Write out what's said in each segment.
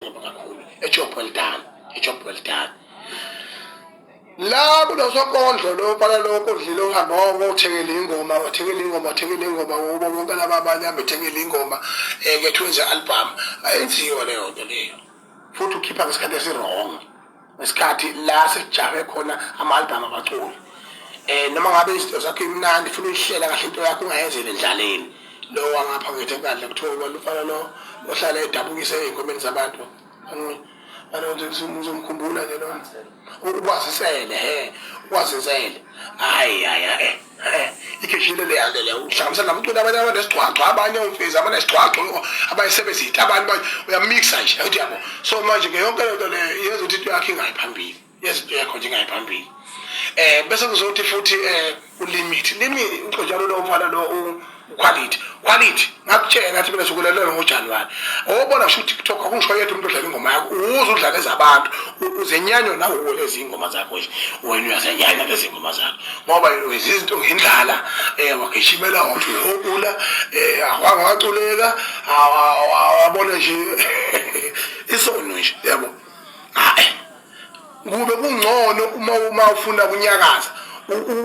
A job well done. A job well done. la kunosokondlo lo bala lo kodlile uhamba wonke uthekele ingoma uthekele ingoma uthekele ingoma ubo bonke laba abanye abethekele ingoma eh ke twenze album ayenziwe leyo nto leyo futhi ukhipha ngesikhathi esirong ngesikhathi la sijame khona ama-albhamu abaculi um eh, noma ngabe izinto zakho imnandi funa uyihlela kahle into yakho ungayenzeli endlaleni lowo wangapha ngithi kandla kuthiwa ubona umfana lo ohlala edabukise ey'nkomeni zabantu uzomkhumbula ke lona ukwazisele he ukwazisele hhayi hhayi hhayi ikheshile leyande leyo uhlanganisa namculi abanye abanesigcwagcwa abanye omfezi abanesigcwagcwa abayisebenzile abantu manje uyamixa nje ukuthi yabo so manje ke yonke lento le yenza ukuthi into yakhe ingayi phambili yenza into yakho nje ingayi phambili um bese kuzothi futhi um ulimit limit uxojalo lo mfana lo ukhwalithi khwalithi ngakutshela ngathi mina sokulelelwe ngojanuwari obona sho utiktok akungisho yedwa umuntu odlala ingoma yakho uze udlale ezabantu uzenyanywa nawe lezi ingoma zakho nje wena uyazenyanya lezi ngoma zakho ngoba wenza izinto ngendlala um wagishimela wathi uyokula um wangawaculeka wabona nje isono nje yabo kube kungcono uma uma ufuna kunyakaza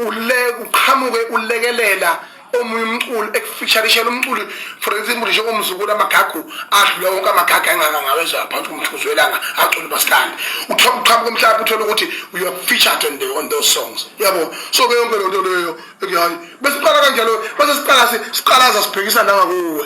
ule uqhamuke ulekelela omunye umculo ekufisharishela umculo for example njengomzukulu amagagu adlula wonke amagagu engaka ngawezwa phansi umthuzo welanga acula ubasikandi uqhamuka umhlaba uthole ukuthi you are featured on, the, on those songs yabo so ke yonke lento leyo hayi besiqala kanjalo bese siqala siqalaza sibhekisa nangakuwe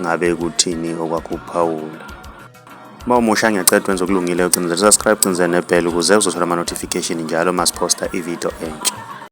ngabe kuthini okwakuphawula uma umusha ngiyacela wenze okulungileyo ucinizele subscribe cinizele nebhele ukuze uzothola ama-notification njalo uma siphosta ividiyo entsha